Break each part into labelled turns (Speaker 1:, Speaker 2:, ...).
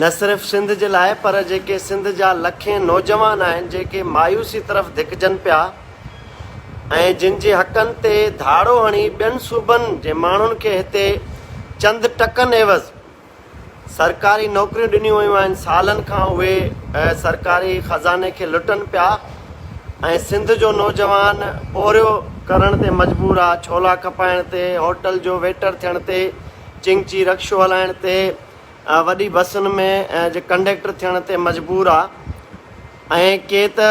Speaker 1: نه صرف سنڌ جي لاء پر جيڪي سنڌ جا لکين نوجوان آهن جيڪي مايوسي طرف ڌڪجن پيا ۽ جن جي حقن تي ڌاڙو هڻي ٻين صوبن جي ماڻهن کي هتي چند ٽڪن عيوض سرڪاري نوڪريون ڏنيون ويون آهن سالن کان اهي سرڪاري خزاني کي لٽن پيا ۽ سنڌ جو نوجوان پورهيو ڪرڻ تي مجبور آ ڇولا کپائڻ تي هوٽل جو ويٽر ٿيڻ تي چنگچي رڪشو هلائڻ تي وڏي بسن ۾ جي ڪنڊيڪٽر ٿيڻ تي مجبور آ ۽ ڪي ته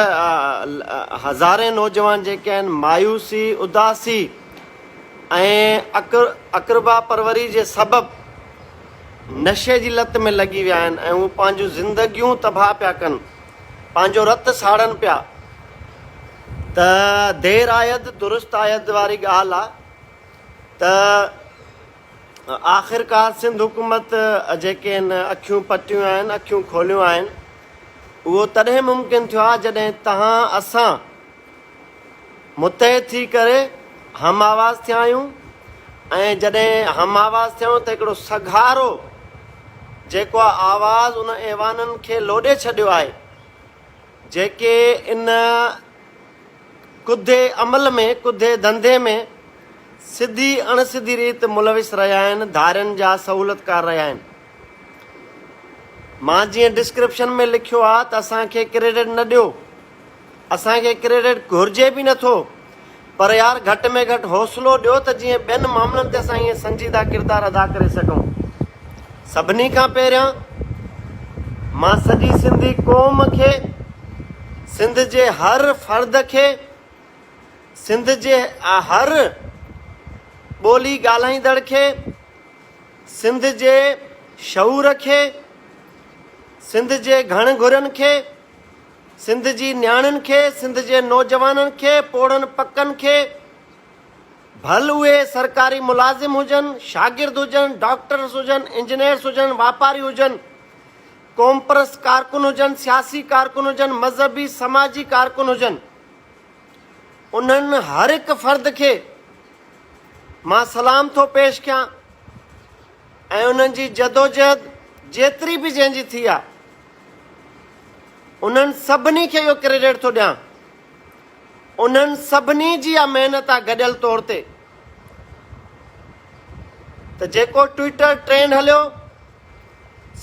Speaker 1: هزارين نوجوان جيڪي آهن مايوسي اداسي ۽ اقربا پروري جي سبب نشي جي لت ۾ لڳي ويا آهن ۽ هو پنهنجون زندگيون تباهه پيا ڪن پنهنجو رت ساڙن پيا ته دير آيد درست آيد واري ڳالهه آ ته آخرڪار سنڌ حڪومت جيڪي هن اکيون پٽيون آهن، اکيون کوليون آهن، اهو تڏهن ممڪن ٿيو آهي جڏهن تهان اسان متحد ٿي ڪري هم آواز ٿيا آهيون ۽ جڏهن هم آواز ٿيا آهيون ته هڪڙو سگهارو جيڪو آواز ان ايوانن کي لوڏي ڇڏيو آهي جيڪي ان ڪڌي عمل ۾ ڪڌي ڌنڌي ۾ سڌي اڻ سڌي ريت ملوث رهيا آهن ڌارين جا سهولتڪار رهيا آهن مان جيئن ڊسڪرپشن ۾ لکيو آ ته اسان کي ڪريڊٽ نه ڏيو اسان کي ڪريڊٽ گهرجي به نه ٿو پر يار گهٽ ۾ گهٽ حوصلو ڏيو ته جيئن ٻين معاملن تي اسان ائين سنجيده ڪردار ادا ڪري سگهون سڀني کان پهريان مان سڄي سنڌي قوم کي، سنڌ جي هر فرد کي، سنڌ جي هر ٻولي ڳالهائيندڙ کي، سنڌ جي شعور کي، سنڌ جي گهڻ گهرن کي، سنڌ جي نياڻين کي، سنڌ جي نوجوانن کي، پوڙهن پڪن کي، ڀل اهي سرڪاري ملازم هجن، شاگرد هجن، ڊاڪٽرس هجن، انجنيئرس هجن، واپاري هجن، قومپرست ڪارڪن هجن، سياسي ڪارڪن هجن، مذهبي سماجي ڪارڪن هجن، انهن هر هڪ فرد کي مان سلام ٿو پيش ڪيان ۽ انهن جي جدوجهد جيتري به جنهن جي ٿي آهي، انهن سڀني کي اهو ڪريڊٽ ٿو ڏيان. انهن سڀني جي اها محنت آهي گڏيل طور تي ته جيڪو ٽوئيٽر ٽرينڊ هليو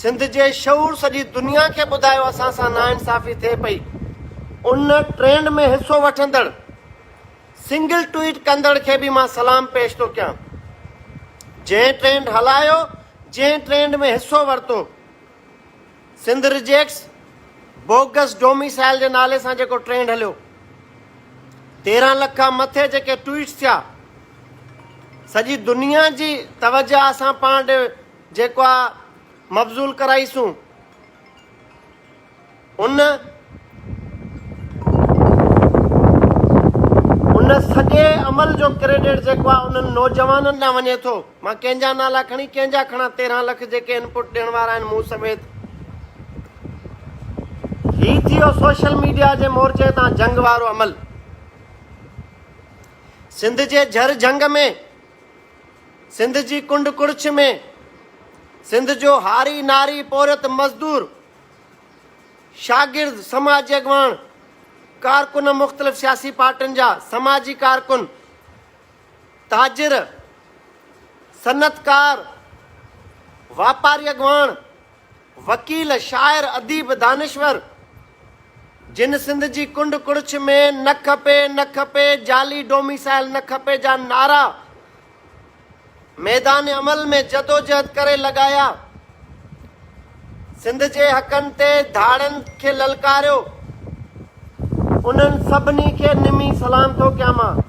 Speaker 1: سنڌ جي شعور سڄي دنيا کي ٻڌايو اسان سان ناانصافي ٿئي پئي ان ٽرينڊ ۾ حصو وٺندڙ سنگل ٽوئيٽ ڪندڙ کي به مان سلام پيش ٿو ڪيان جنهن ٽرينڊ هلايو جنهن ٽرينڊ ۾ حصو ورتو سنڌ ريجيڪٽس بوگس ڊوميسائل جي نالي سان جيڪو ٽرينڊ هليو، تيرهن لک کان مٿي جيڪي ٽوئيٽس ٿيا، سڄي دنيا جي توجه اسان پاڻ ڏي جيڪو آ مبذول ڪرائي سون ان ان سڄي عمل جو ڪريڊٽ جيڪو آ انهن نوجوانن ڏانهن وڃي ٿو. مان ڪنهن جا نالا کڻي ڪنهن جا کڻان تيرهن لک جيڪي انپوٽ ڏيڻ وارا آهن مون سميت هي ٿيو سوشل ميڊيا جي مورچي تان جنگ وارو عمل سنڌ جي جھر جھنگ ۾ سنڌ جي ڪنڊ ڪڙڇ ۾ سنڌ جو هاري ناري پورهيت مزدور شاگرد سماجي اڳواڻ ڪارڪن مختلف سياسي پارٽين جا سماجي ڪارڪن تاجر، صنعتڪار، واپاري اڳواڻ، وڪيل، شاعر، اديب، دانشور، جن سنڌ جي ڪنڊ ڪڙڇ ۾ نه کپي، نه کپي، جعلي ڊوميسائل نه کپي جا نعرا ميدان عمل ۾ جدوجهد ڪري لڳايا، سنڌ جي حقن تي ڌاڙن کي للڪاريو انهن سڀني کي نمي سلام ٿو ڪيان مان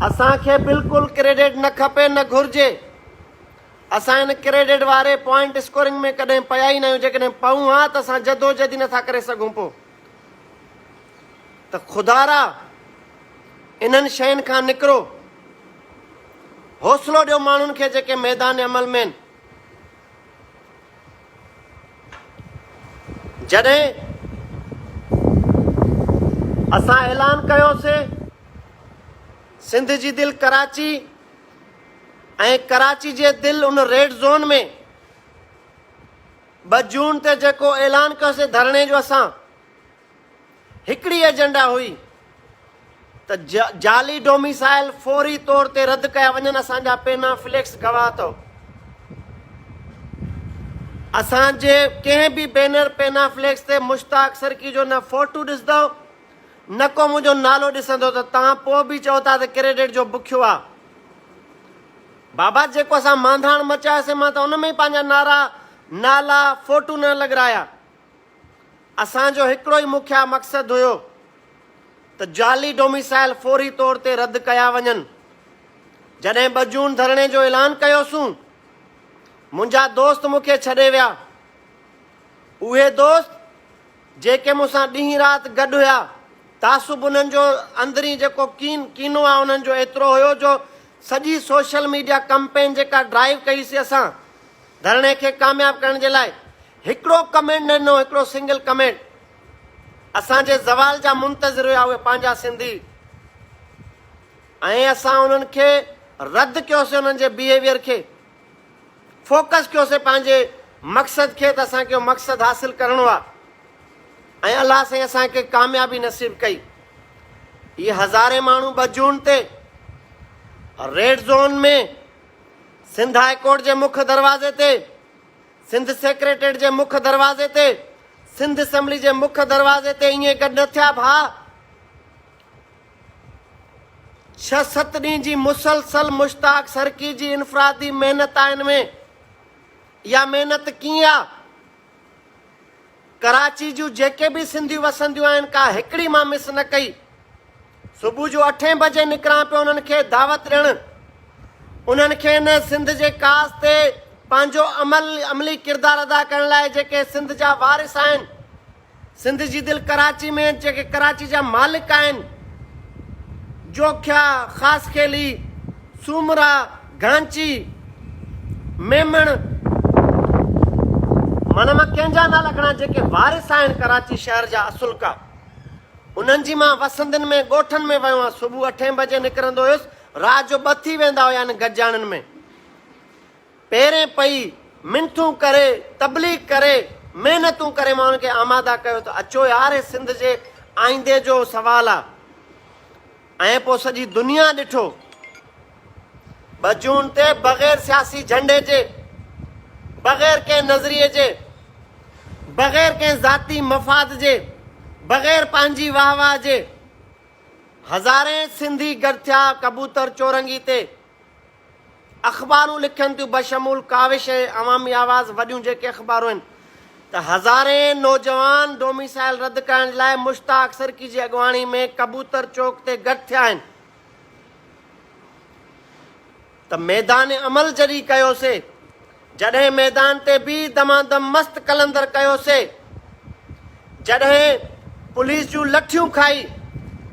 Speaker 1: اسان کي بلڪل ڪريڊٽ نه کپي نه گهرجي اسان ان ڪريڊٽ واري پوائنٽ اسڪورنگ ۾ ڪڏهن پيا ئي نه آهيون جيڪڏهن پئون ها ته اسان جدوجهد ئي نٿا ڪري سگهون پو ته خدا را انهن شين کان نڪرو، حوصلو ڏيو ماڻهن کي جيڪي ميدان عمل ۾ آهن. جڏهن اسان اعلان ڪيوسي سنڌ جي دل ڪراچي ۽ ڪراچي جي دل ان ريڊ زون ۾ ٻه جون تي جيڪو اعلان ڪيوسين ڌرڻي جو اسان هڪڙي ايجنڊا هئي ته جعلي ڊوميسائل فوري طور تي رد ڪيا وڃن اسان جا پينا فليڪس گواهه اٿو اسان جي ڪنهن به بينر پينا فليڪس تي مشتاق سرڪي جو نه فوٽو ڏسندو نه ڪو منهنجو نالو ڏسندو ته تان پوء به چئو ٿا ته ڪريڊٽ جو بکيو آ بابا جيڪو اسان مانڌاڻ مچاياسين مان ته ان ۾ ئي پنهنجا نعرا، نالا، فوٽو نه لڳرايا. اسان جو هڪڙو ئي مکيه مقصد هيو ته جعلي ڊوميسائل فوري طور تي رد ڪيا وڃن. جڏهن ٻه جون ڌرڻي جو اعلان ڪيوسون، منهنجا دوست مون کي ڇڏي ويا. اهي دوست جيڪي مون سان ڏينهن رات گڏ هيا، تعصب انهن جو اندرين جيڪو ڪين، ڪينو آ انهن جو ايترو هيو جو سڄي سوشل ميڊيا ڪمپين جيڪا ڊرائيو ڪئي سي اسان ڌرڻي کي ڪامياب ڪرڻ جي لاء هڪڙو ڪمينٽ نه ڏنو هڪڙو سنگل ڪمينٽ اسان جي زوال جا منتظر هيا اهي پنهنجا سنڌي ۽ اسان انهن کي رد ڪيو سي انهن جي بيهيويئر کي. فوڪس ڪيوسين پنهنجي مقصد کي ته اسان کي اهو مقصد حاصل ڪرڻو آهي ۽ الله سائين اسان کي ڪاميابي نصيب ڪئي هي هزارين ماڻهو ٻه جون تي red zone ۾ Sindh high court جي مک دروازي تي سنڌ سيڪريٽريٽ جي مک دروازي تي سنڌ اسمبلي جي مک دروازي تي ائين گڏ نه ٿيا ڀاء ڇهه ست ڏينهن جي مسلسل مشتاق سرڪي جي انفرادي محنت آ ان ۾ اها محنت ڪيئن آ؟ ڪراچي جون جيڪي به سنڌيون وسنديون آهن ڪا هڪڙي مان مس نه ڪئي صبح جو اٺين بجي نڪران پيو انهن کي دعوت ڏيڻ انهن کي ان سنڌ جي ڪاس تي پنهنجو عمل عملي ڪردار ادا ڪرڻ لاء جيڪي سنڌ جا وارث آهن سنڌ جي دل ڪراچي ۾ جيڪي ڪراچي جا مالڪ آهن، جوکيا، خاصخيلي، سومرا، گهانچي، ميمڻ، معنيٰ مان ڪنهن جا نالا کڻان جيڪي وارث آهن ڪراچي شهر جا اصلڪا انهن جي مان وسندين ۾ ڳوٺن ۾ ويو آهيان صبح اٺين بجي نڪرندو هيس رات جو ٻه ٿي ويندا هيا انهن گڏجاڻين ۾ پيرين پئي منٿون ڪري، تبليغ ڪري، محنتون ڪري ماڻهن کي آماده ڪيو ته اچو يار هي سنڌ جي آئيندي جو سوال آ ۽ پوء سڄي دنيا ڏٺو ٻه جون تي بغير سياسي جهنڊي جي، بغير ڪنهن نظريي جي، بغير ڪنهن ذاتي مفاد جي، بغير پنهنجي واهه واهه جي هزارين سنڌي گڏ ٿيا ڪبوتر چورنگي تي. اخبارون لکن ٿيون بشمول ڪاوش ۽ عوامي آواز وڏيون جيڪي اخبارون آهن ته هزارين نوجوان ڊوميسائل رد ڪرڻ لاء مشتاق سرڪي جي اڳواڻي ۾ ڪبوتر چوڪ تي گڏ ٿيا آهن ته ميدان عمل جڏهن ڪيوسي جڏهن ميدان تي بي دمادم مست قلندر ڪيو سي جڏهن پوليس جون لٺيون کائي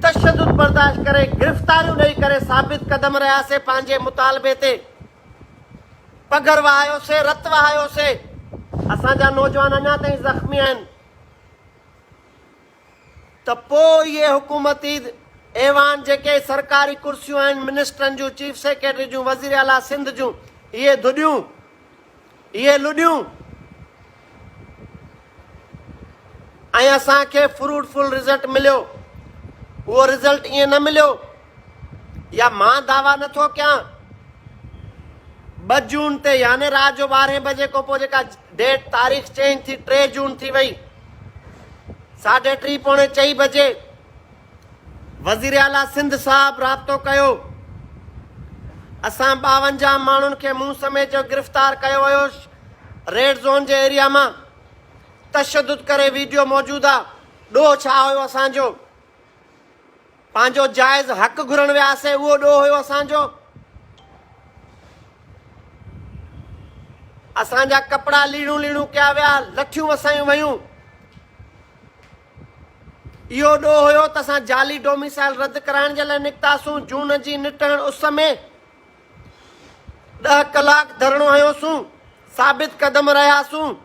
Speaker 1: تشدد برداشت ڪري گرفتاريون ڏئي ڪري ثابت قدم رهيا سي پنهنجي مطالبي تي پگهر وهايو سي رت وهايو سي اسان جا نوجوان اڃا تائين زخمي آهن. ته پوء اهي حڪومتي ايوان جيڪي سرڪاري ڪرسيون آهن، منسٽرن جون، چيف سيڪريٽري جون، وزير اعليٰ سنڌ جون، اهي ڌڏيون، اهي لڏيون ۽ اسان کي فروٽ فل رزلٽ مليو. اهو رزلٽ ائين نه مليو يا مان دعويٰ نه ٿو ڪيان ٻه جون تي يعني رات جو ٻارهين بجي کان پوء جيڪا ڊيٽ تاريخ چينج ٿي ٽي جون ٿي وئي ساڍي ٽي پوڻي چئي بجي وزير اعليٰ سنڌ صاحب رابطو ڪيو اسان ٻاونجاهه ماڻهن کي مون سميت جو گرفتار ڪيو ويو ريڊ زون جي ايريا مان تشدد ڪري ويڊيو موجود آ ڏوهه ڇا هيو اسان جو پنهنجو جائز حق گهرڻ وياسين اهو ڏوهه هيو اسان جو اسان جا ڪپڙا ليڙون ليڙون ڪيا ويا لٺيون وسايون ويون اهو ڏوهه هيو ته اسان جعلي ڊوميسائل رد ڪرائڻ جي لاء نڪتاسون جون جي نٽهڻ اس ۾ ڏهه ڪلاڪ ڌرڻو هنيوسون ثابت قدم رهياسون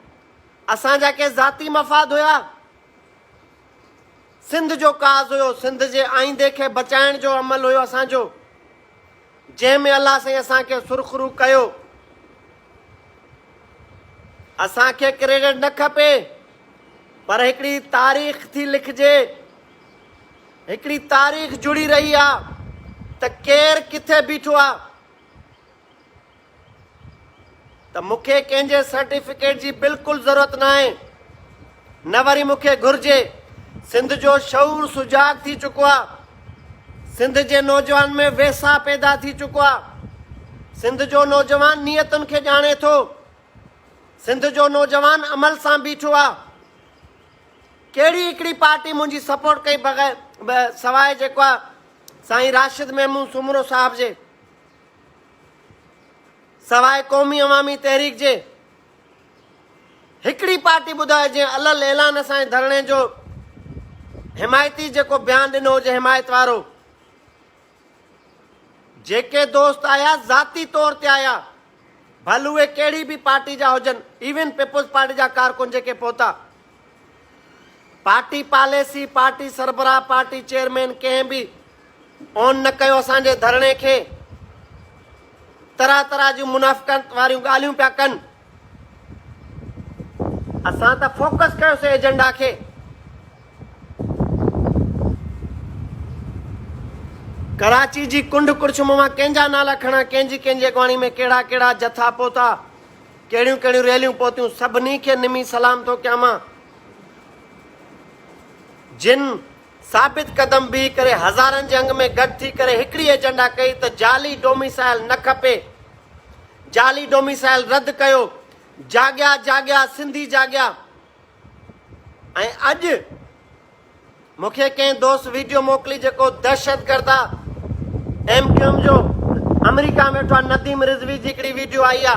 Speaker 1: اسان جا ڪي ذاتي مفاد هيا سنڌ جو ڪاز هيو، سنڌ جي آئيندي کي بچائڻ جو عمل هيو اسان جو، جنهن ۾ الله سائين اسان کي سرخرو ڪيو. اسان کي ڪريڊٽ نه کپي پر هڪڙي تاريخ ٿي لکجي، هڪڙي تاريخ جڙي رهي آ ته ڪير ڪٿي بيٺو آ. ته مون کي ڪنهن جي سرٽيفڪيٽ جي بلڪل ضرورت ناهي نه وري مون کي گهرجي سنڌ جو شعور سجاڳ ٿي چڪو آ سنڌ جي نوجوان ۾ ويساهه پيدا ٿي چڪو آ سنڌ جو نوجوان نيتن کي ڄاڻي ٿو سنڌ جو نوجوان عمل سان بيٺو آ ڪهڙي هڪڙي پارٽي منهنجي سپورٽ ڪئي بغير سواء جيڪو آ سائين راشد محمود سومرو صاحب جي سواء قومي عوامي تحريڪ جي هڪڙي پارٽي ٻڌايو جنهن الل اعلان اسان جي ڌرڻي جو حمايتي جيڪو بيان ڏنو هجي حمايت وارو جيڪي دوست آيا ذاتي طور تي آيا ڀل اهي ڪهڙي به پارٽي جا هجن ايون پيپلز پارٽي جا ڪارڪن جيڪي پهتا پارٽي پاليسي، پارٽي سربراهه، پارٽي چيئرمين ڪنهن به اون نه ڪيو اسان جي ڌرڻي کي، طرح طرح جون منافقت واريون ڳالهيون پيا ڪن، اسان ته فوڪس ڪيوسي ايجنڊا کي، ڪراچي جي ڪنڊ ڪڙڇم مان ڪنهن جا نالا کڻان، ڪنهن جي ڪنهن جي اڳواڻي ۾ ڪهڙا ڪهڙا جٿا پهتا. ڪهڙيون ڪهڙيون ريليون پهتيون سڀني کي نمي سلام ٿو ڪيان مان جن ثابت قدم بيهي ڪري هزارن جي انگ ۾ گڏ ٿي ڪري هڪڙي ايجنڊا ڪئي ته جعلي ڊوميسائل نه کپي جعلي ڊوميسائل رد ڪيو جاڳيا جاڳيا سنڌي جاڳيا ۽ اڄ مون کي ڪنهن دوست ويڊيو موڪلي جيڪو دهشتگرد آ ايم ڪيو ايم جو آمريڪا ۾ ويٺو آ نديم رضوي جي هڪڙي ويڊيو آئي آ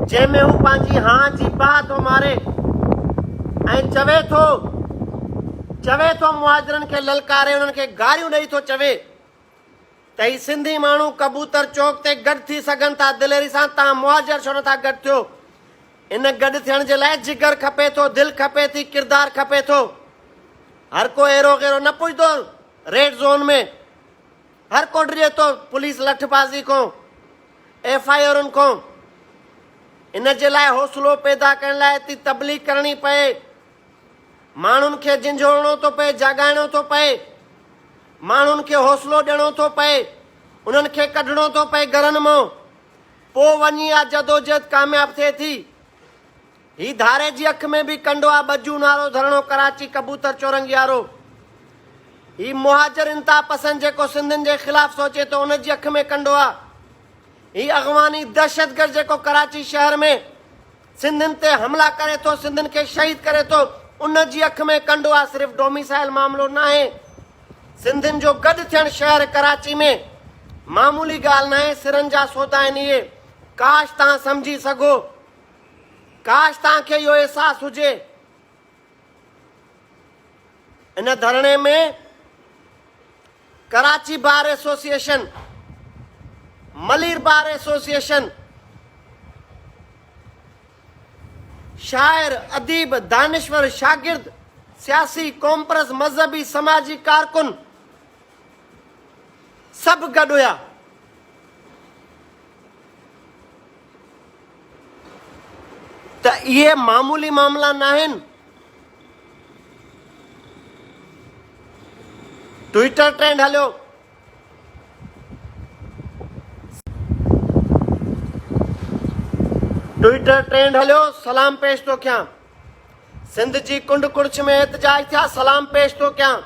Speaker 1: جنهن ۾ هو پنهنجي هان جي پاء ٿو ماري ۽ چوي ٿو چوي ٿو مهاجرن کي للڪاري انهن کي گاريون ڏئي ٿو چوي ته هي سنڌي ماڻهو ڪبوتر چوڪ تي گڏ ٿي سگهن ٿا دليري سان تان مهاجر ڇو نٿا گڏ ٿيو ان گڏ ٿيڻ جي لاء جگر کپي ٿو دل کپي ٿي ڪردار کپي ٿو هر ڪو ايرو غيرو نه پڄندو ريڊ زون ۾ هر ڪو ڊڄي ٿو پوليس لٺ بازي کو ايف آئي آرن کو ان جي لاء حوصلو پيدا ڪرڻ لاء تي تبليغ ڪرڻي پئي ماڻهن کي جنجهوڙڻو ٿو پئي، جاڳائڻو ٿو پئي، ماڻهن کي حوصلو ڏيڻو ٿو پئي، انهن کي ڪڍڻو ٿو پئي گهرن مان، پوء وڃي اها جدوجهد ڪامياب ٿئي ٿي. هي ڌاري جي اک ۾ به ڪنڊو آ ٻجون وارو ڌرڻو ڪراچي ڪبوتر چورنگي وارو. هي مهاجر انتها پسند جيڪو سنڌين جي خلاف سوچي ٿو ان جي اک ۾ ڪنڊو آ. هي اغواني دهشتگرد جيڪو ڪراچي شهر ۾ سنڌين تي حملا ڪري ٿو سنڌين کي شهيد ڪري ٿو ان جي اک ۾ ڪنڊو آ صرف ڊوميسائل معاملو ناهي سنڌين جو گڏ ٿيڻ شهر ڪراچي ۾ معمولي ڳالهه ناهي سرن جا سودا آهن اهي ڪاش تهان سمجهي سگهو ڪاش تهان کي اهو احساس هجي. ان ڌرڻي ۾ Karachi bar association, Malir bar association, شاعر، اديب، دانشور، شاگرد، سياسي، قومپرست، مذهبي، سماجي ڪارڪن سڀ گڏ هيا. ته اهي معمولي معاملا ناهن ٽوئيٽر ٽرينڊ هليو ٽوئيٽر ٽرينڊ هليو سلام پيش ٿو ڪيان سنڌ جي ڪنڊ ڪڙڇ ۾ احتجاج ٿيا سلام پيش ٿو ڪيان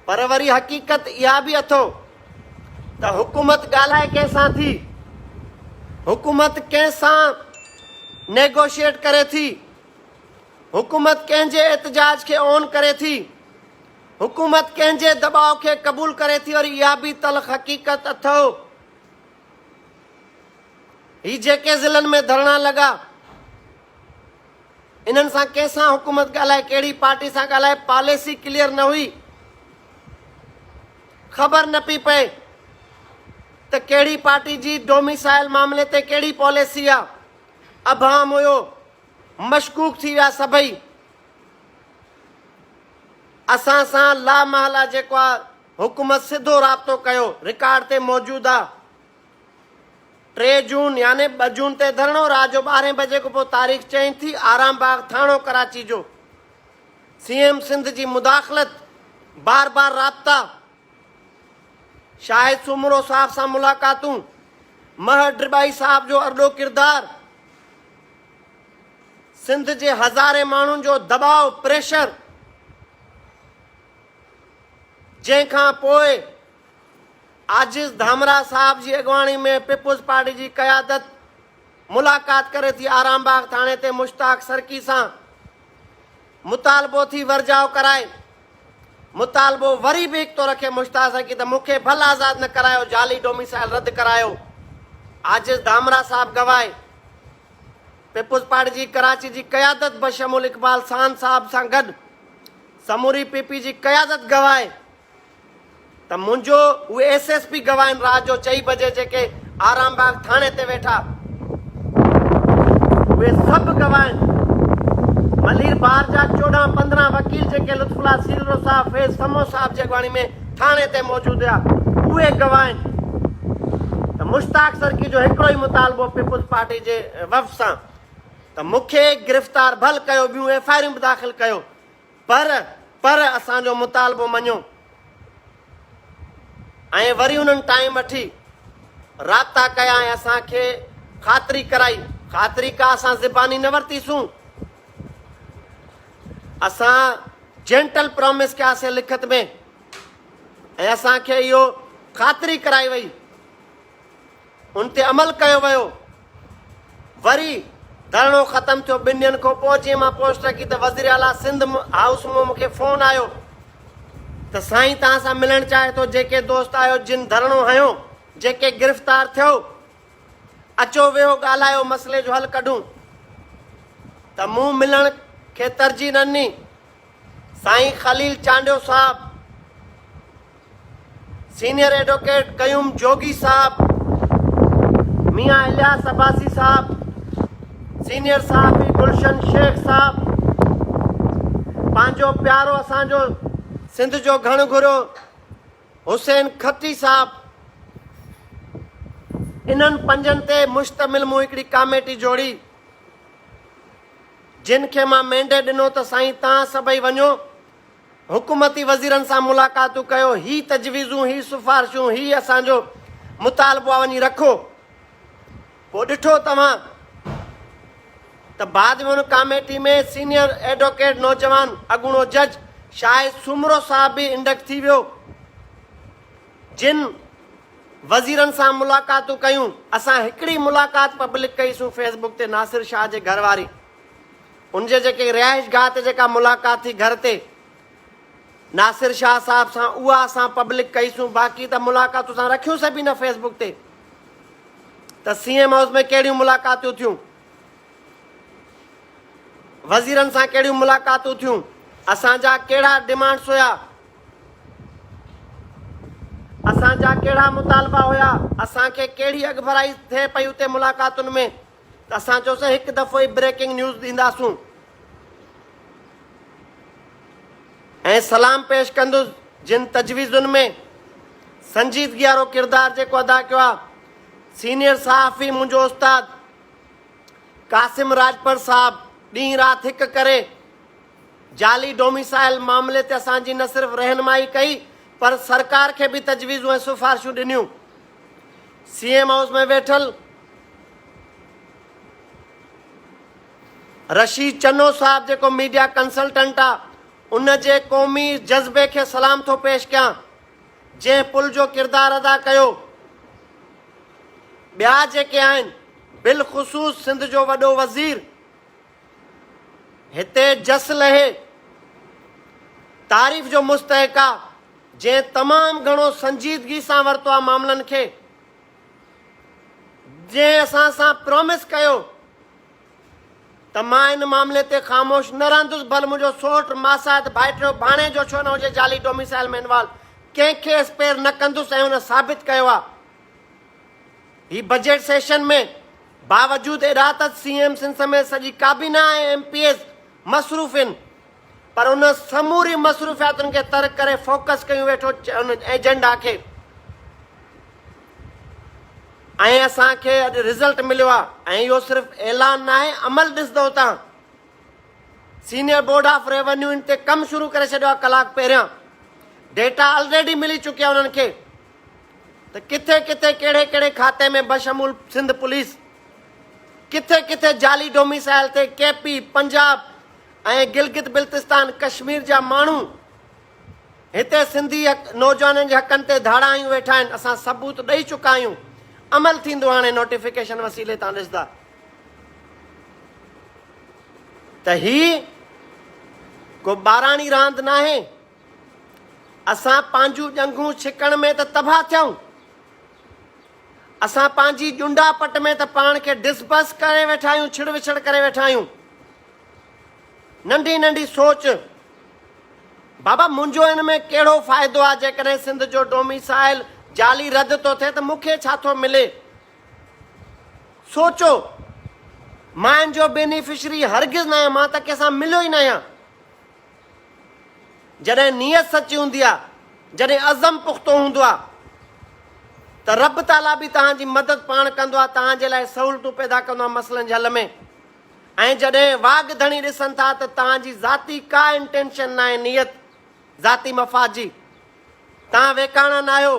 Speaker 1: پر وري حقيقت اها به اٿو ته حڪومت ڳالهائي ڪنهن سان ٿي حڪومت ڪنهن سان نيگوشيٽ ڪري ٿي حڪومت ڪنهن جي احتجاج کي اون ڪري ٿي حڪومت ڪنهن جي دٻاء کي قبول ڪري ٿي وري اها به تلخ حقيقت اٿو هي جيڪي ضلعن ۾ ڌرڻا لڳا انهن سان ڪنهن سان حڪومت ڳالهائي ڪهڙي پارٽي سان ڳالهائي پاليسي ڪليئر نه هئي خبر نه پي پئي ته ڪهڙي پارٽي جي ڊوميسائل معاملي تي ڪهڙي پاليسي آ ابهام هيو مشڪوڪ ٿي ويا سڀئي اسان سان لا محلا جيڪو آ حڪومت سڌو رابطو ڪيو، رڪارڊ تي موجود آ. ٽي جون يعني ٻه جون تي ڌرڻو رات جو ٻارهين بجي کان پوء تاريخ چينج ٿي، آرام باغ ٿاڻو ڪراچي جو سي ايم سنڌ جي مداخلت، بار بار رابطا، شاهد سومرو صاحب سان ملاقاتون، مهر ڊرٻائي صاحب جو ارڏو ڪردار، سنڌ جي هزارين ماڻهن جو دٻاء، پريشر، جنهن کان پوء عاجز ڌامراهه صاحب جي اڳواڻي ۾ پيپلز پارٽي جي قيادت ملاقات ڪري ٿي آرام باغ ٿاڻي تي مشتاق سرڪي سان مطالبو ٿي ورجاء ڪرائي مطالبو وري به هڪ ٿو رکي مشتاق سرڪي ته مون کي ڀل آزاد نه ڪرايو جعلي ڊوميسائل رد ڪرايو عاجز ڌامراهه صاحب گواهي پيپلز پارٽي جي ڪراچي جي قيادت بشمول اقبال سان صاحب سان گڏ سموري پي پي جي قيادت گواهي ته منهنجو اهي ايس ايس پي گواهين رات جو چئي بجي جيڪي آرام باغ ٿاڻي تي ويٺا اهي سڀ گواهين ملير بار جا چوڏهن پندرهن وڪيل جيڪي لطف الله سيلرو صاحب فيض سمو صاحب جي اڳواڻي ۾ ٿاڻي تي موجود هيا اهي گواهين ته مشتاق سرڪي جو هڪڙو ئي مطالبو پيپلز پارٽي جي وفد سان ته مونکي گرفتار ڀل ڪيو ٻيون ايف آئريون به داخل ڪيو پر پر اسان جو مطالبو مڃو ۽ وري انهن ٽائيم وٺي رابطا ڪيا ۽ اسان کي خاطري ڪرائي خاطري ڪا اسان زباني نه ورتيسون اسان جينٽل پرومس ڪياسي لکت ۾ ۽ اسان کي اهو خاطري ڪرائي وئي ان تي عمل ڪيو ويو. وري ڌرڻو ختم ٿيو ٻن ڏينهن کان پوء جي مان پوسٽ رکي ته وزير اعليٰ سنڌ هائوس مان مون کي فون آيو ته سائين توهان سان ملڻ چاهي ٿو جيڪي دوست آهيو جن ڌرڻو هنيو جيڪي گرفتار ٿيو اچو ويهو ڳالهايو مسئلي جو حل ڪڍون ته مون ملڻ کي ترجيح ڏني سائين خليل چانڊيو صاحب، سينئر ايڊوڪيٽ قيوم جوڳي صاحب، ميان الياس عباسي صاحب، سينئر صحافي گلشن شيخ صاحب، پنهنجو پيارو اسان جو سنڌ جو گهڻ گهرو حسين کٽي صاحب، انهن پنجن تي مشتمل مون هڪڙي ڪاميٽي جوڙي. جن کي مان مينڊيٽ ڏنو ته سائين تان سڀئي وڃو حڪومتي وزيرن سان ملاقاتون ڪيو هي تجويزون هي سفارشون هي اسان جو مطالبو آ وڃي رکو پو ڏٺو توهان ته بعد ۾ ان ڪاميٽي ۾ سينيئر ايڊوڪيٽ نوجوان اڳوڻو جج شاهد سومرو صاحب به انڊڪٽ ٿي ويو جن وزيرن سان ملاقاتون ڪيون، اسان هڪڙي ملاقات پبلڪ ڪئي سون فيس بڪ تي ناصر شاهه جي گهر واري ان جي جيڪي رهائش گاهه تي جيڪا ملاقات ٿي گهر تي ناصر شاهه صاحب سان اها اسان پبلڪ ڪئي سون باقي ته ملاقات اسان رکيون سي به نه فيس بڪ تي ته سي ايم هائوس ۾ ڪهڙيون ملاقاتون ٿيون وزيرن سان ڪهڙيون ملاقاتون ٿيون اسان جا ڪهڙا ڊيمانڊس هيا اسان جا ڪهڙا مطالبا هيا، اسان کي ڪهڙي اڳڀرائي ٿئي پئي اتي ملاقاتن ۾ ته اسان چيوسين هڪ دفعو ئي بريڪنگ نيوز ڏينداسون ۽ سلام پيش ڪندس جن تجويزن ۾ سنجيدگي وارو ڪردار جيڪو ادا ڪيو آهي سينيئر صحافي منهنجو استاد قاسم راڄپر صاحب ڏينهن رات هڪ ڪري جعلي ڊوميسائل معاملي تي اسان جي نه صرف رهنمائي ڪئي پر سرڪار کي به تجويزون ۽ سفارشون ڏنيون. سي ايم هائوس ۾ ويٺل رشيد چنو صاحب جيڪو ميڊيا ڪنسلٽنٽ آ ان جي قومي جذبي کي سلام ٿو پيش ڪيان جنهن پل جو ڪردار ادا ڪيو ٻيا جيڪي آهن بالخصوص سنڌ جو وڏو وزير هتي جس لهي تعريف جو مستحق آ جنهن تمام گهڻو سنجيدگي سان ورتو آ معاملن کي جنهن اسان سان پرومس ڪيو ته مان ان معاملي تي خاموش نه رهندس ڀل منهنجو سوٽ ماسات ڀائٽيو ڀاڻي جو ڇو نه هجي جعلي ڊوميسائل ۾ انوالو ڪنهن کي اسپير نه ڪندس ۽ ان ثابت ڪيو آ هي بجيٽ سيشن ۾ باوجود اڏاوت سي ايم سنڌ سميت سڄي ڪابينا ۽ ايم پي ايز مصروف ان پر ان سموري مصروفياتن کي ترڪ ڪري فوڪس ڪيون ويٺو ان ايجنڊا کي ۽ اسان کي اڄ رزلٽ مليو آ ۽ اهو صرف اعلان نه آهي عمل ڏسندو تان سينئر بورڊ آف ريونيو ان تي ڪم شروع ڪري ڇڏيو آ ڪلاڪ پهريان ڊيٽا آلريڊي ملي چڪي آ انهن کي ته ڪٿي ڪٿي ڪهڙي ڪهڙي کاتي ۾ بشمول سنڌ پوليس ڪٿي ڪٿي جعلي ڊوميسائل تي ڪي پي، پنجاب ۽ گلگت بلتستان ڪشمير جا ماڻهو هتي سنڌي نوجوانن جي حقن تي ڌاڙايون ويٺا آهن اسان ثبوت ڏئي چڪا آهيون عمل ٿيندو هاڻي نوٽيفڪيشن وسيلي تان ڏسندا ته هي ڪو ٻاراڻي راند ناهي اسان پنهنجون ڄنگهون ڇڪڻ ۾ ته تباهه ٿيائون، اسان پنهنجي ڄنڊا پٽ ۾ ته پاڻ کي ڊس بس ڪري ويٺا آهيون، ڇڙ وڇڙ ڪري ويٺا آهيون. ننڍي ننڍي سوچ، بابا منهنجو ان ۾ ڪهڙو فائدو آهي، جيڪڏهن سنڌ جو ڊوميسائل جعلي رد ٿو ٿئي ته مون کي ڇا ٿو ملي؟ سوچو، مان ان جو بينيفشري هرگز ناهيان، مان ته ڪنهن سان مليو ئي ناهيان. جڏهن نيت سچي هوندي آهي، جڏهن عزم پختو هوندو آهي ته رب تعاليٰ به توهان جي مدد پاڻ ڪندو آهي، توهان جي لاء سهولتون پيدا ڪندو آهي مسئلن جي حل ۾ ۽ جڏهن واڳ ڌڻي ڏسن ٿا ته توهان جي ذاتي ڪا انٽينشن ناهي نيت ذاتي مفاد جي توهان ويڪاڻا ناهيو،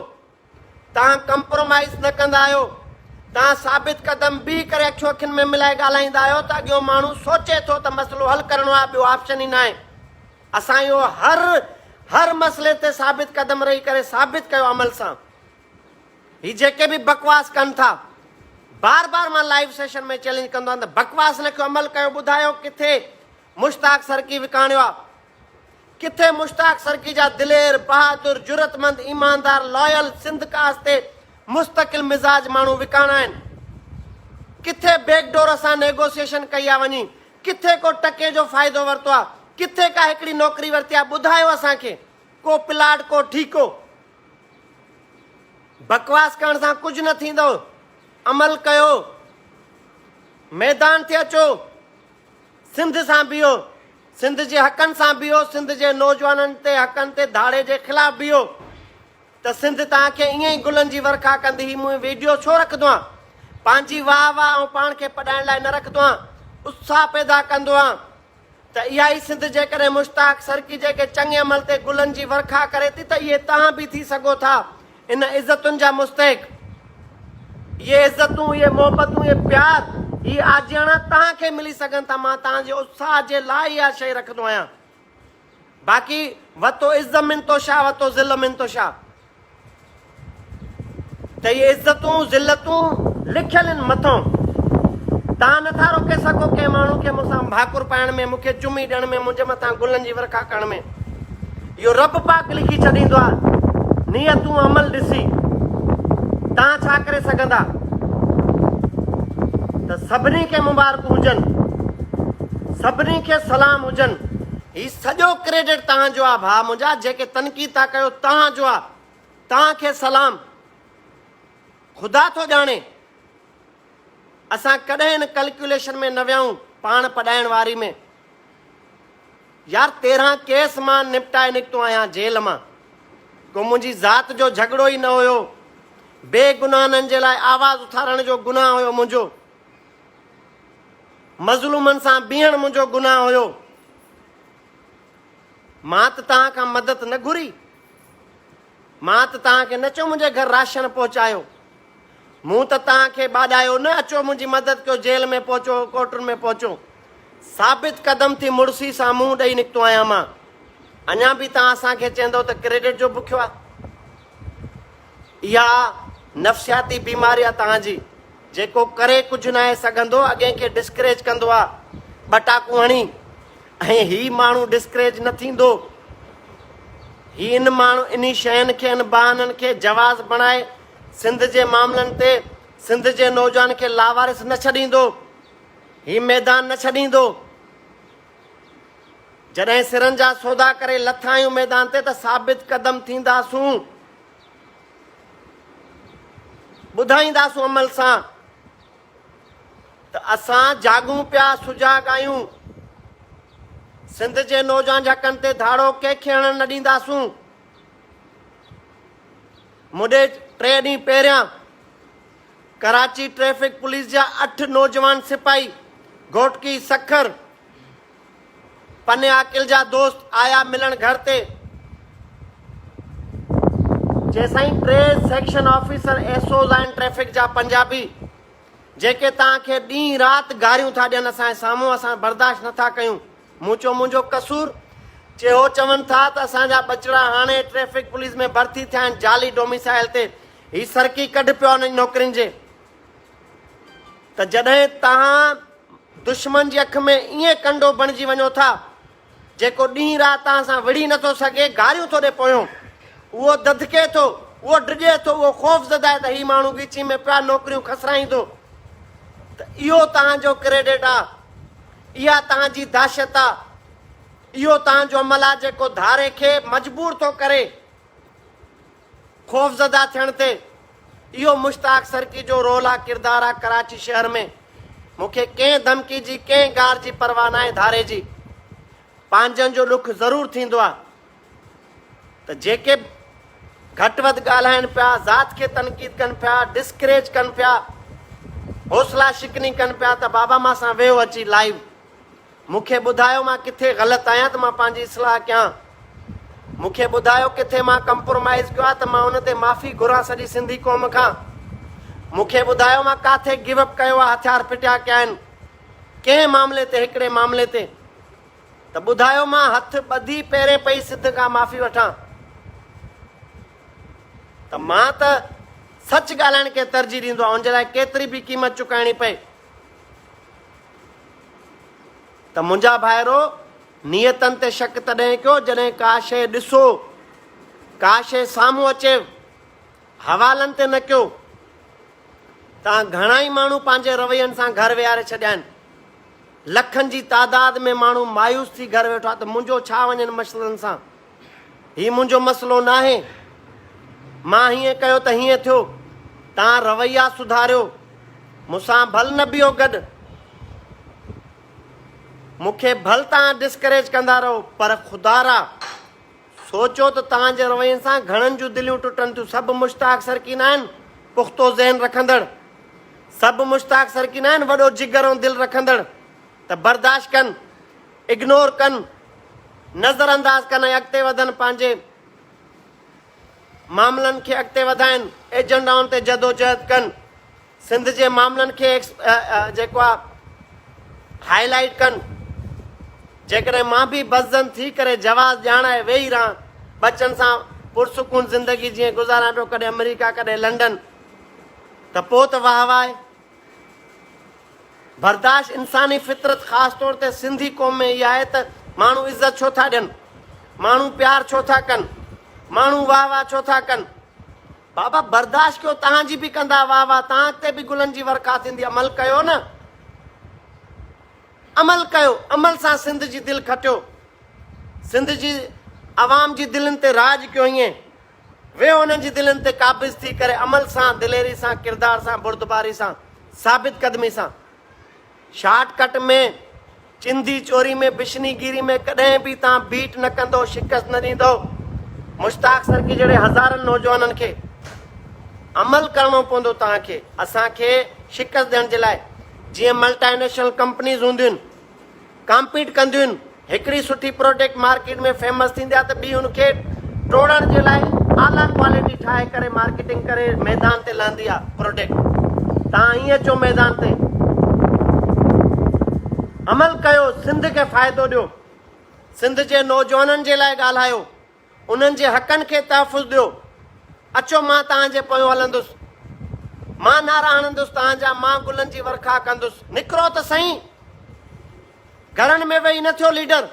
Speaker 1: توهان ڪمپرومائيز نه ڪندا آهيو، توهان ثابت قدم بيهي ڪري اکيون اکين ۾ ملائي ڳالهائيندا آهيو ته اڳيون ماڻهو سوچي ٿو ته مسئلو حل ڪرڻو آهي ٻيو آپشن ئي ناهي. اسان اهو هر هر مسئلي تي ثابت قدم رهي ڪري ثابت ڪيو عمل سان. هي جيڪي به بڪواس ڪن ٿا بار بار مان لائيو سيشن ۾ چئلينج ڪندو آهيان ته بڪواس نه ڪيو عمل ڪيو ٻڌايو ڪٿي مشتاق سرڪي وڪاڻيو آهي. ڪٿي مشتاق سرڪي جا دلير، بهادر، جرئتمند، ايماندار، لايل، سنڌ ڪاس تي مستقل مزاج ماڻهو وڪاڻا آهن. ڪٿي بيڪ ڊور سان نيگوسيئيشن ڪئي آ وڃي، ڪٿي ڪو ٽڪي جو فائدو ورتو آ، ڪٿي ڪا هڪڙي نوڪري ورتي آ، ٻڌايو اسان کي، ڪو پلاٽ، ڪو ٺيڪو. بڪواس ڪرڻ سان ڪجهه نه ٿيندو، عمل ڪيو، ميدان تي اچو، سنڌ سان بيهو. سنڌ جي حقن سان بيهو، سنڌ جي نوجوانن تي حقن تي ڌاڙي جي خلاف بيهو ته سنڌ توهان کي ائين ئي گلن جي ورکا ڪندي هي مون ويڊيو ڇو رکندوهان پنهنجي واهه واهه آئون پاڻ کي پڏائڻ لاء نه رکندوهان اتساهه پيدا ڪندوهان ته اها ئي سنڌ جيڪڏهن مشتاق سرڪي جيڪي چڱي عمل تي گلن جي ورکا ڪري ٿي ته اهي توهان به ٿي سگهو ٿا ان عزتن جا مستحق، اهي عزتون، اهي محبتون، اهي پيار، هي آجياڻا توهان کي ملي سگهن ٿا، مان توهان جي اتساهه جي لاء اها شيء رکندو آهيان. باقي وتو عز من تشاء وتو ذل من تشاء ته اهي عزتون، ذلتون لکيل آهن مٿئون. توهان نه ٿا روڪي سگهو ڪنهن ماڻهو کي مون سان ڀاڪر پائڻ ۾، مون کي چمي ڏيڻ ۾، منهنجي مٿان گلن جي ورکا ڪرڻ ۾. اهو رب پاڪ لکي ڇڏيندو آهي، نيتون عمل ڏسي توهان ڇا ڪري سگهندا ته سڀني کي مبارڪون هجن، سڀني کي سلام هجن. هي سڄو ڪريڊٽ توهان جو آهي ڀاء منهنجا، جيڪي تنقيد ٿا ڪيو توهان جو آهي، توهان کي سلام. خدا ٿو ڄاڻي اسان ڪڏهن ان ڪلڪيوليشن ۾ نه ويائون پاڻ پڏائڻ واري ۾. يار تيرهن ڪيس مان نپٽائي نڪتو آهيان جيل مان ڪو منهنجي ذات جو جهڳڙو ئي نه هيو بي گناهنن جي لاء آواز اٿارڻ جو گناهه هيو منهنجو مظلومن سان بيهڻ منهنجو گناهه هيو مان ته توهان کان مدد نه گهري مان ته توهان کي نه چيو منهنجي گهر راشن پهچايو مون ته توهان کي ٻاڏايو نه اچو منهنجي مدد ڪيو جيل ۾ پهچو ڪوٽن ۾ پهچو ثابت قدم ٿي مڙسي سان منهن ڏئي نڪتو آهيان مان اڃا به توهان اسان کي چيندو ته ڪريڊٽ جو بکيو آهي اها نفسياتي بيماري آهي توهان جي جيڪو ڪري ڪجهه نه آهي سگهندو اڳين کي ڊسڪريج ڪندو آهي ٻٽاڪو هڻي ۽ هي ماڻهو ڊسڪريج نه ٿيندو هي ان ماڻهو انهي شين کي ان بهانن کي جواز بڻائي سنڌ جي معاملن تي سنڌ جي نوجوان کي لاوارث نه ڇڏيندو، هي ميدان نه ڇڏيندو. جڏهن سرن جا سودا ڪري لٿا آهيون ميدان تي ته ثابت قدم ٿينداسون، ٻڌائينداسون عمل سان ته اسان جاڳون پيا، سجاڳ آهيون. سنڌ جي نوجوان جي حقن تي ڌاڙو ڪنهن کي هڻڻ نه ڏينداسون. مون ڏي ٽي ڏينهن پهريان ڪراچي ٽريفڪ پوليس جا اٺ نوجوان سپاهي گهوٽڪي سکر پني عاقل جا دوست آيا ملڻ گهر تي جيسائين ٽي سيڪشن آفيسر ايس اوز آهن ٽريفڪ جا پنجابي جيڪي تان کي ڏينهن رات گاريون ٿا ڏين اسان سامهون اسان برداشت نٿا ڪيون مون چيو منهنجو قصور؟ چي هو چون ٿا ته اسان جا ٻچڙا هاڻي ٽريفڪ پوليس ۾ ڀرتي ٿيا آهن جعلي ڊوميسائل تي هي سرڪي ڪڍ پيو آهن نوڪرين جي ته جڏهن توهان دشمن جي اک ۾ ائين ڪنڊو بڻجي وڃو ٿا جيڪو ڏينهن رات توهان سان وڙهي نٿو سگهي گاريون ٿو ڏي پويون اهو دڌڪي ٿو اهو ڊڄي ٿو اهو خوف زده آهي ته هي ماڻهو ڳيچي ۾ پيو آهي نوڪريون کسرائيندو ته اهو توهان جو ڪريڊٽ آهي اها توهان جي دهشت آ. اهو توهان جو عمل آ جيڪو ڌاري کي مجبور ٿو ڪري خوفزده ٿيڻ تي. اهو مشتاق سرڪي جو رول آ ڪردار آ ڪراچي شهر ۾ مون کي ڪنهن ڌمڪي جي ڪنهن گار جي پرواهه ناهي ڌاري جي پنهنجن جو ڏک ضرور ٿيندو آ ته جيڪي به گهٽ وڌ ڳالهائين پيا، ذات کي تنقيد ڪن پيا، ڊسڪريج ڪن پيا، حوصلا شڪني ڪن پيا ته بابا مان سان ويهو اچي لائيو، مون کي ٻڌايو مان ڪٿي غلط آهيان ته مان پنهنجي اصلاح ڪيان، مون کي ٻڌايو ڪٿي مان ڪمپرومائيز ڪيو آهي ته مان ان تي معافي گهران سڄي سنڌي قوم کان، مون کي ٻڌايو مان ڪاٿي گيو اپ ڪيو آهي هٿيار ڦٽيا ڪيا آهن، ڪنهن معاملي تي هڪڙي معاملي تي. ته ٻڌايو مان هٿ ٻڌي پيرين پئي سڌ کان معافي وٺان ته مان ته سچ ڳالهائڻ کي ترجيح ڏيندو آهيان ان جي لاء ڪيتري به قيمت چڪائڻي پئي ته منهنجا ڀائرو نيتن تي شڪ تڏهن ڪيو جڏهن ڪا شيء ڏسو ڪا شيء سامهون اچي حوالن تي نه ڪيو تان گهڻا ئي ماڻهو پنهنجي روين سان گهر ويهاري ڇڏيا آهن لکن جي تعداد ۾ ماڻهو مايوس ٿي گهر ويٺا ته منهنجو ڇا وڃن مسئلن سان هي منهنجو مسئلو ناهي مان هيئن ڪيو ته هيئن ٿيو تان رويا سڌاريو مونسان ڀل نه بيهو گڏ مونکي ڀل تان ڊسڪريج ڪندا رهو پر خدارا سوچيو ته توهان جي روين سان گهڻن جون دليون ٽٽن ٿيون. سڀ مشتاق سرڪي ناهن، پختو ذهن رکندڙ. سڀ مشتاق سرڪي ناهن، وڏو جگر ۽ دل رکندڙ. ته برداشت ڪن، اگنور ڪن، نظر انداز ڪن ۽ اڳتي وڌن، پنهنجي معاملن کي اڳتي وڌائين، ايجنڊائن تي جدوجهد ڪن. سنڌ جي معاملن کي جيڪو آ هائي لائيٽ ڪن جيڪڏهن مان به بزن ٿي ڪري جواز ڄاڻائي ويهي رهان ٻچن سان پرسڪون زندگي جيئن گذاران پيو ڪڏهن امريڪا ڪڏهن لنڊن ته پوء ته واهه واهه برداشت انساني فطرت خاص طور تي سنڌي قوم ۾ اها آهي ته ماڻهو عزت ڇو ٿا ڏين ماڻهو پيار ڇو ٿا ڪن ماڻهو واهه واهه ڇو ٿا ڪن بابا برداشت ڪيو توهان جي به ڪندا واه واه توهان اڳتي به گلن جي ورکا ٿيندي عمل ڪيو نه عمل ڪيو عمل سان سنڌ جي دل کٽيو سنڌ جي عوام جي دلين تي راڄ ڪيو ائين ويهو انهن جي دلين تي قابض ٿي ڪري عمل سان دليري سان ڪردار سان بردباري سان ثابت قدمي سان شارٽ ڪٽ ۾ چندي چوري ۾ بشني گيري ۾ ڪڏهن به تان بيٽ نه ڪندو شڪست نه ڏيندو مشتاق سرڪي جهڙي هزارن نوجوانن کي عمل ڪرڻو پوندو تان کي اسان کي شڪست ڏيڻ جي لاء جيئن ملٽائي نيشنل ڪمپنيز هونديون ڪمپيٽ ڪنديون هڪڙي سٺي پروڊڪٽ مارڪيٽ ۾ فيمس ٿيندي آهي ته ٻي ان کي ٽوڙڻ جي لاء اعليٰ ڪوالٽي ٺاهي ڪري مارڪيٽنگ ڪري ميدان تي لهندي آهي پروڊڪٽ تان ائين اچو ميدان تي عمل ڪيو سنڌ کي فائدو ڏيو سنڌ جي نوجوانن جي لاء ڳالهايو انهن جي حقن کي تحفظ ڏيو. اچو مان توهان جي پويون هلندس. مان نعرا هڻندس توهان جا، مان گلن جي ورکا ڪندس. نڪرو ته سهين! گهرن ۾ ويهي نه ٿيو ليڊر،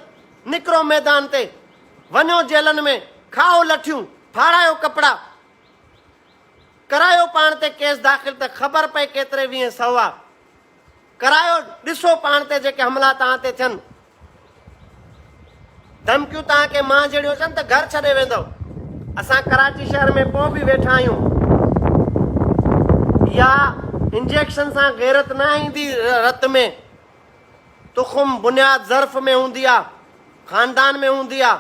Speaker 1: نڪرو ميدان تي، وڃو جيلن ۾، کائو لٺيون، ڦاڙايو ڪپڙا، ڪرايو پاڻ تي ڪيس داخل ته خبر پئي ڪيتري ويهين سهوا. ڪرايو ڏسو پاڻ تي جيڪي حملا توهان تي ٿين ڌمڪيون توهان کي مان جهڙيون اچن ته گهر ڇڏي ويندو اسان ڪراچي شهر ۾ پو به ويٺا آهيون يا انجيڪشن سان غيرت نه ايندي رت ۾ تخم بنياد ظرف ۾ هوندي آ خاندان ۾ هوندي آ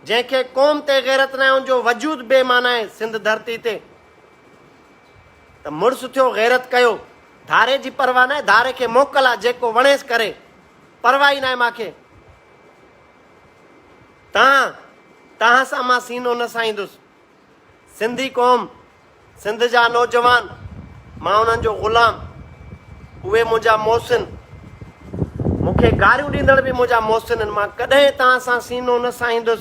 Speaker 1: جنهن کي قوم تي غيرت نه ان جو وجود بي معنی آهي سنڌ ڌرتي تي ته مڙس ٿيو غيرت ڪيو. ڌاري جي پرواهه ناهي ڌاري کي موڪل آ جيڪو وڻيس ڪري پرواهه ئي ناهي مان کي تان تان سان مان سينو نه سائيندس سنڌي قوم سنڌ جا نوجوان مان انهن جو غلام اهي منهنجا محسن مون کي گاريون ڏيندڙ به منهنجا محسن آهن مان ڪڏهن تان سان سينو نه سائيندس.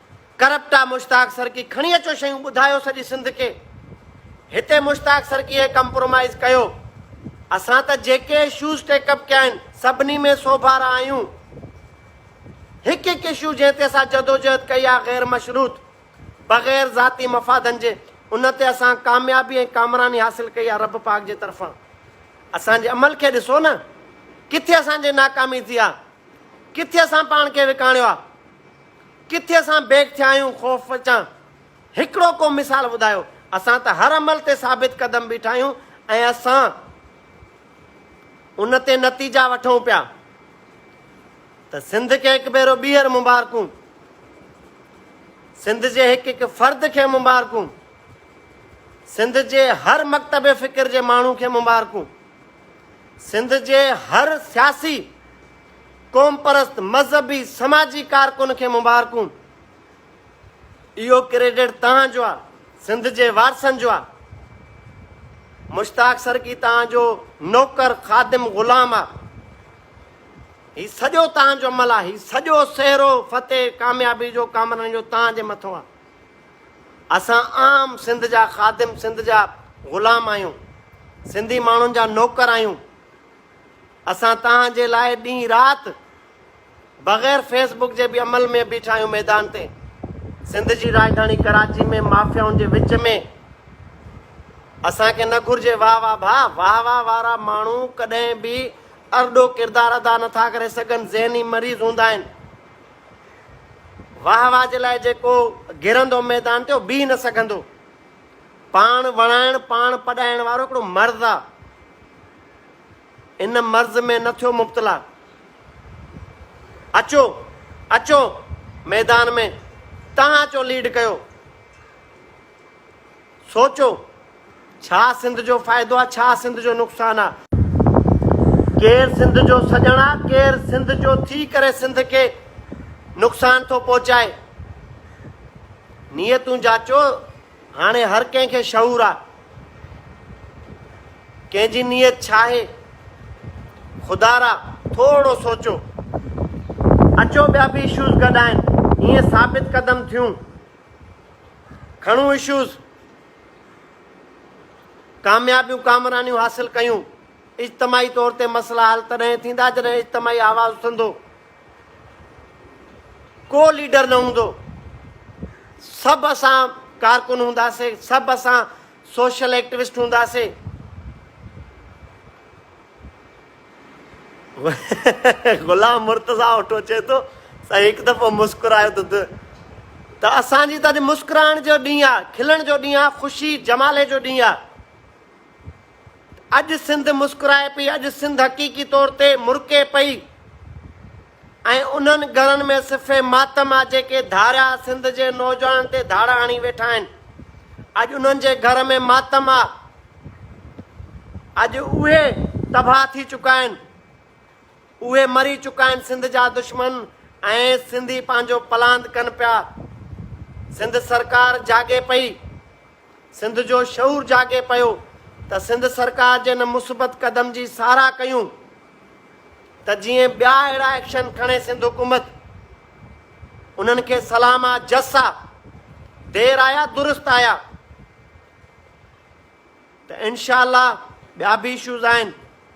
Speaker 1: ڪرپٽ آ مشتاق سرڪي کڻي اچو شيون ٻڌايو سڄي سنڌ کي هتي مشتاق سرڪي ڪمپرومائز ڪيو اسان ته جيڪي اشوز ٽيڪ اپ ڪيا آهن سڀني ۾ سوڀارا آهيون هڪ هڪ اشو جنهن تي اسان جدوجهد ڪئي آ غير مشروط بغير ذاتي مفادن جي ان تي اسان ڪاميابي ۽ ڪامراني حاصل ڪئي آ رب پاڪ جي طرفان اسان جي عمل کي ڏسو نه ڪٿي اسان جي ناڪامي ٿي آ ڪٿي اسان پاڻ کي وڪاڻيو آ. ڪٿي اسان بيڪ ٿيا آهيون خوف چان هڪڙو ڪو مثال ٻڌايو اسان ته هر عمل تي ثابت قدم بيٺا آهيون ۽ اسان ان تي نتيجا وٺون پيا ته سنڌ کي هڪ ڀيرو ٻيهر مبارڪون سنڌ جي هڪ هڪ فرد کي مبارڪون سنڌ جي هر مڪتب فڪر جي ماڻهو کي مبارڪون سنڌ جي هر سياسي قومپرست مذهبي سماجي ڪارڪن کي مبارڪون اهو ڪريڊٽ توهان جو آ سنڌ جي وارثن جو آ مشتاق سرڪي توهان جو نوڪر خادم غلام آ هي سڄو توهان جو عمل آ هي سڄو سهرو فتح ڪاميابي جو ڪامرن جو توهان جي مٿو آ اسان عام سنڌ جا خادم سنڌ جا غلام آهيون سنڌي ماڻهن جا نوڪر آهيون اسان توهان جي لاء ڏينهن رات بغير فيس بڪ جي به عمل ۾ بيٺا آهيون ميدان تي سنڌ جي راڄڌاڻي ڪراچي ۾ مافيائن جي وچ ۾ اسان کي نه گهرجي واهه واهه ڀا واهه واهه وارا ماڻهو ڪڏهن به ارڏو ڪردار ادا نٿا ڪري سگهن ذهني مريض هوندا آهن واهه واهه جي لاء جيڪو گرندو ميدان تي اهو بيهي نه سگهندو پاڻ وڻائڻ پاڻ پڏائڻ وارو هڪڙو مرض آهي ان مرض ۾ نه ٿيو مبتلا. اچو اچو ميدان ۾ تهان اچو ليڊ ڪيو. سوچو ڇا سنڌ جو فائدو آ ڇا سنڌ جو نقصان آ. ڪير سنڌ جو سڄڻ آ ڪير سنڌ جو ٿي ڪري سنڌ کي نقصان ٿو پهچائي. نيتون جاچو. هاڻي هر ڪنهن کي شعور آ ڪنهن جي نيت ڇا آهي خدا را ٿورو سوچو اچو ٻيا به اشوز گڏ آهن ائين ثابت قدم ٿيون کڻون اشوز ڪاميابيون ڪامرانيون حاصل ڪيون اجتماعي طور تي مسئلا حل تڏهن ٿيندا جڏهن اجتماعي آواز اٿندو ڪو ليڊر نه هوندو، سڀ اسان ڪارڪن هونداسين، سڀ اسان سوشل ايڪٽيوسٽ هونداسين. غلام مرتضا اوٺو چئي ٿو سائين هڪ دفعو مسڪرايو ته ته اسان جي ته اڄ مسڪرائڻ جو ڏينهن آ کلڻ جو ڏينهن آ خوشي جمالي جو ڏينهن آ اڄ سنڌ مسڪرائي پئي، اڄ سنڌ حقيقي طور تي مرڪي پئي ۽ انهن ڳرن ۾ صفي ماتم آ جيڪي ڌاريا سنڌ جي نوجوانن تي ڌاڙا هڻي ويٺا آهن. اڄ انهن جي گهر ۾ ماتم آ. اڄ اهي تباهه ٿي چڪا آهن. اهي مري چڪا آهن سنڌ جا دشمن ۽ سنڌي پنهنجو پلاند ڪن پيا. سنڌ سرڪار جاڳي پئي. سنڌ جو شعور جاڳي پيو ته سنڌ سرڪار جي ان مثبت قدم جي ساراهه ڪيون ته جيئن ٻيا اهڙا ايڪشن کڻي سنڌ حڪومت انهن کي سلام آ جس آ دير آيا درست آيا ته انشاء الله ٻيا به اشوز آهن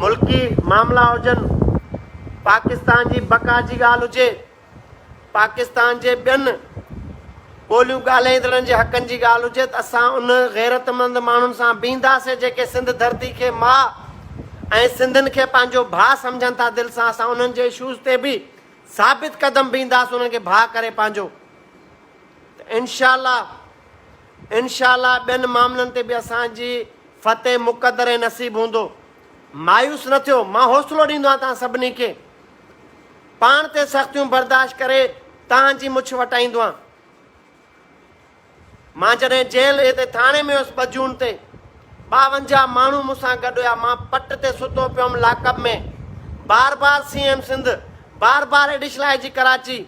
Speaker 1: ملڪي معاملا هجن، پاڪستان جي بقا جي ڳالهه هجي، پاڪستان جي ٻين ٻوليون ڳالهائيندڙن جي حقن جي ڳالهه هجي ته اسان ان غيرتمند ماڻهن سان بيهنداسين جيڪي سنڌ ڌرتي کي ماء ۽ سنڌين کي پنهنجو ڀاء سمجهن ٿا دل سان اسان انهن جي اشوز تي به ثابت قدم بيهنداسين انهن کي ڀاء ڪري پنهنجو ته انشاء الله انشاء الله ٻين معاملن تي به اسان جي فتح مقدر ۽ نصيب هوندو. مايوس نه ٿيو، مان حوصلو ڏيندو آهيان توهان سڀني کي. پاڻ تي سختيون برداشت ڪري توهان جي مڇ وٽائيندو آهيان. مان جڏهن جيل هتي ٿاڻي ۾ هيس ٻه جون تي ٻاونجاهه ماڻهو مون سان گڏ هيا، مان پٽ تي ستو پيو هيم لاڪ اپ ۾ بار بار سي ايم سنڌ، بار بار ايڊيشل آء جي ڪراچي،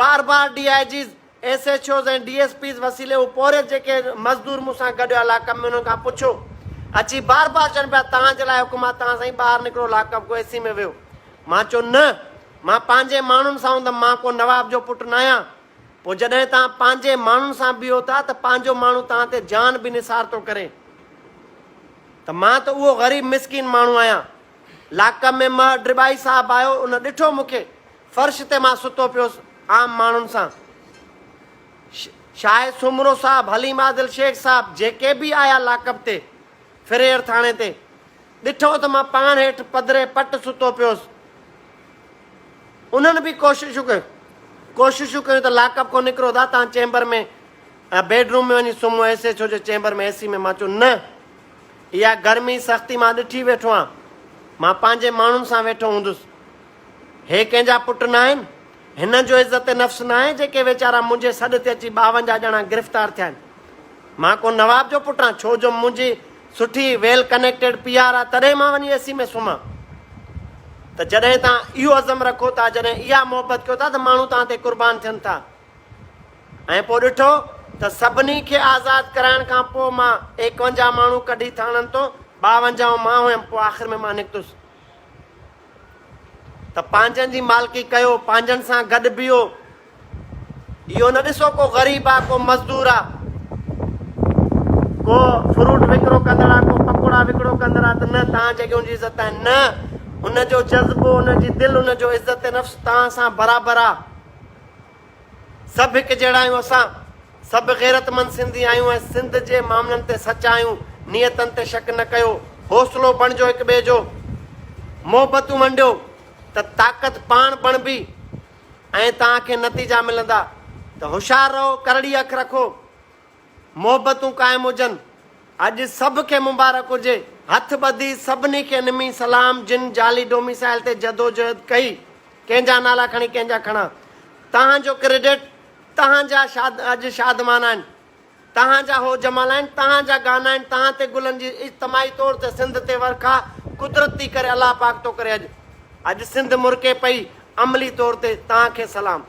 Speaker 1: بار بار D I Gs, S H Os ۽ D S Ps وسيلي هو پورهيت جيڪي مزدور مون سان گڏ علاقن ۾ انهن کان پڇو اچي بار بار چون پيا توهان جي لاء حڪم آ توهان سائين ٻاهر نڪرو لاڪپ گو اي سي ۾ ويهو مان چيو نه مان پنهنجي ماڻهن سان هوندم مان ڪو نواب جو پٽ ناهيان پوء جڏهن توهان پنهنجي ماڻهن سان بيهو ٿا ته پنهنجو ماڻهو توهان تي جان به نثار ٿو ڪري ته مان ته اهو غريب مسڪين ماڻهو آهيان لاڪپ ۾ مهر ڊرٻائي صاحب آيو ان ڏٺو مون کي فرش تي مان ستو پيوس عام ماڻهن سان شاهه سومرو صاحب حليم عادل شيخ صاحب جيڪي به آيا لاڪپ تي فريئر ٿاڻي تي ڏٺو ته مان پاڻ هيٺ پڌري پٽ ستو پيوس انهن به ڪوششون ڪيون ڪوششون ڪيون ته لاڪپ کون نڪرو دا تان چيمبر ۾ بيڊ روم ۾ وڃي سمهو ايس ايچ او جي چيمبر ۾ اي سي ۾ مان چيو نه اها گرمي سختي مان ڏٺي ويٺو آهيان مان پنهنجي ماڻهن سان ويٺو هوندس هي ڪنهن جا پٽ ناهن؟ هنن جو عزت نفس ناهي جيڪي ويچارا منهنجي سڏ تي اچي ٻاونجاهه ڄڻا گرفتار ٿيا آهن. مان ڪو نواب جو پٽ آهيان ڇو جو منهنجي سٺي ويل ڪنيڪٽيڊ پي آر آهي تڏهن مان وڃي اي سي ۾ سمهان. ته جڏهن توهان اهو عزم رکو ٿا جڏهن اها محبت ڪيو ٿا ته ماڻهو توهان تي قربان ٿين ٿا ۽ پوء ڏٺو ته سڀني کي آزاد ڪرائڻ کان پوء مان ايڪونجاهه ماڻهو ڪڍي ٿاڻن تون ٻاونجاهون مان هيم پوء آخر ۾ مان نڪتس ته پنهنجن جي مالڪي ڪيو، پنهنجن سان گڏ بيهو، اهو نه ڏسو ڪو غريب آ، ڪو مزدور آ، ڪو فروٽ وڪرو ڪندڙ آ، ڪو پڪوڙا وڪرو ڪندر آ ته نه تان جڳهيون جي عزت آهن، نه ان جو جذبو، ان جي دل، ان جو عزت نفس تان سان برابر آ. سڀ هڪ جهڙا آهيون اسان سڀ غيرتمند سنڌي آهيون ۽ سنڌ جي معاملن تي سچا آهيون نيتن تي شڪ نه ڪيو حوصلو بڻجو هڪ ٻئي جو محبتون منڊيو ته طاقت پاڻ بڻبي ۽ توهان کي نتيجا ملندا ته هوشيار رهو ڪرڙي اک رکو محبتون قائم هجن. اڄ سڀ کي مبارڪ هجي. هٿ ٻڌي سڀني کي نمي سلام جن جعلي ڊوميسائل تي جدوجهد ڪئي ڪنهن جا نالا کڻي ڪنهن جا کڻان توهان جو ڪريڊٽ توهان جا شاد اڄ شادمان آهن توهان جا هو جمال آهن توهان جا گانا آهن توهان تي گلن جي اجتماعي طور تي سنڌ تي ورکا قدرت ٿي ڪري الله پاڪ ٿو ڪري اڄ اڄ سنڌ مرڪي پئي عملي طور تي توهان کي سلام.